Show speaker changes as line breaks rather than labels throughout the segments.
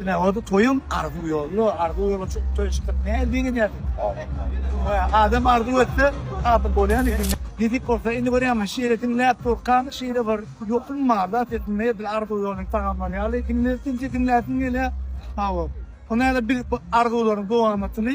Ine, ol toýuň arzuw ýoluna, arzuw ýoluna çykyp toýa çykdyk. Nähili begenýärsiň? Adam arzuw etse, hasyl bolýan ekeni. Nesip bolsa, indi görýäňmi, şeýle diňläp durkam, şeýle bir ýokum bar-da sesimde, edil arzuw ýoluny tagamlar ýaly. Diňleýin, diňläsiň gelýär. Hawa. Onda ýa-da biz bu arzuwlaryň dowamatyny.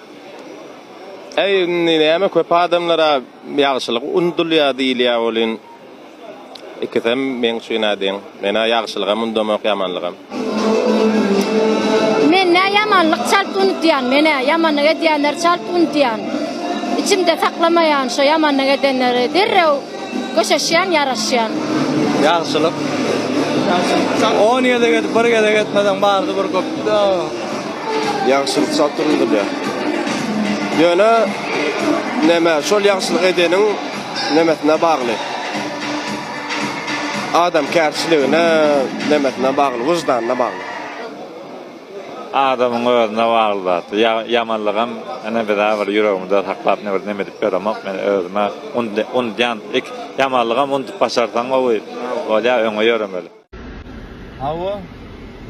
Äý indi näme köp adamlara ýagşylyk undulýa diýilýä welin ikisem meň üçinä deň. Menä ýagşylygam undamok ýamanlygam.
Menä ýamanlyk çalt unudýan menä ýamanlyk edýänleri çalt unudýan içimde saklamaýan şo ýamanlyk edenleri derrew. Köşeşýän, ýaraşýan. Ýagşylyk.
Ýagşylyk. On gezek edip, bir gezek etmeseň bardy bir köp.
Ýagşylyk çalt durulýar. Ýöne näme, şol ýagşylyk edeniň nämesine bagly. Adamkärçiligine, nämesine bagly, wyždanyna bagly. Adamyň
özüne bagly zat. Ýamanlygam ine bize bir ýüregimde saklap ne bir neme edip ýöremek. Men özüme unudýan ýamanlygam unudyp başarsaň gowy bolýar öňe ýöremeli. Hawa,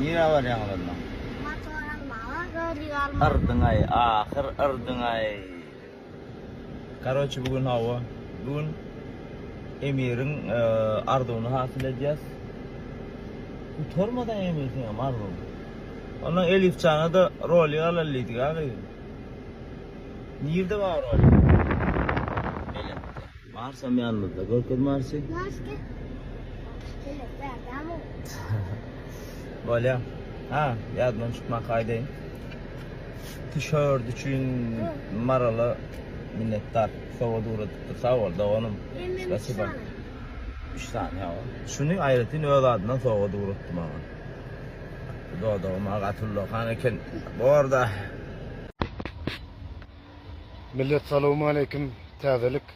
nirä barýaňyz onnoň? Motor almaga, göz ýügi almaga. Yrdyňaý, ahyr yrdyňaý. Karoçi bugün hava. Bugün Emir'in e, arzuwuny hasyl edýäs. Utarmadan Emir seňem arzuw. Ondan Elif jana da roli alal diýdik aga. Nirde bar roli? Marsam ýanymyzda görkez Marsy. Mars gel. Gel berdam ol. Bolýa. Ha, ýadymdan çykmak aýdaýyn. Tişört üçin Marala minnetdar. Sowat ugradypdyr. Sag bol doganym. Spasiba. Üç sany ýa. Şuny aýratyn öz adyndan sowat ugratdy maňa. Dodagyma gaty ullakan eken. Borda.
Millet salowmaleýkim Täzelik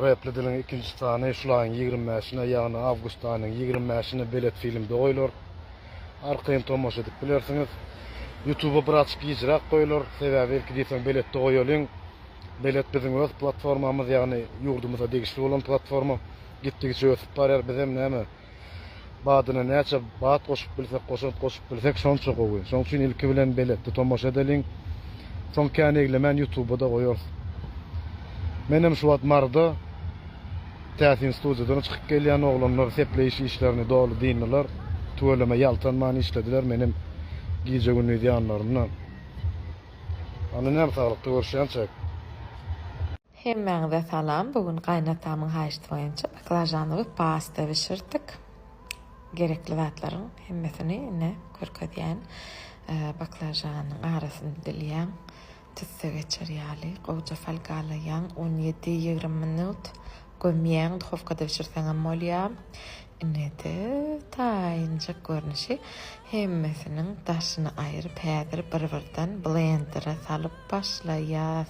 repli diliň ikinji sany şul aýyň ýigrimi bäşine ýagny awgust aýynyň ýigrimi bäşine belet filmde goýlar arkaýyn tomaşa edip bilersiňiz ýutuba bir açyk gijräk goýlar sebäbi ilki diýseň beletde goýalyň belet biziň öz platformamyz ýagny ýurdumyza degişli bolan platforma gitdigiçe ösüp barýar bizem näme Badyna näçe bat goşup bilsek, goşant goşup bilsek şonça gowy. Şoň üçin ilki bilen beletde tomaşa edeliň. Soň kän eglemän ýutuba-da goýarys. Menem şu wagt Maryda täsin studiýadan çykyp gelýän oglanlar sepleýiş işlerini doly dyndylar. Tüweleme ýaltanman işlediler, menem gije-gündiz ýanlarynda. Hany näme saglykda görüşýänçäk. Hemmäňize
salam, bu gün gaýynatamyň haýyşty boýunça baklažanly we pasta bişirdik. Gerekli zatlaryň hemmesini ine görkezýän. Baklažanyň arasyny dilýäň, tüsse geçer ýaly gowja salgalaýaň, on ýedi, ýigrimi minut gömýäň, duhowkada bişirseňem bolýar. Ine-de taýynjyk görnüşi. Hemmesiniň daşyny aýryp häzir bir-birden blendere salyp başlaýas.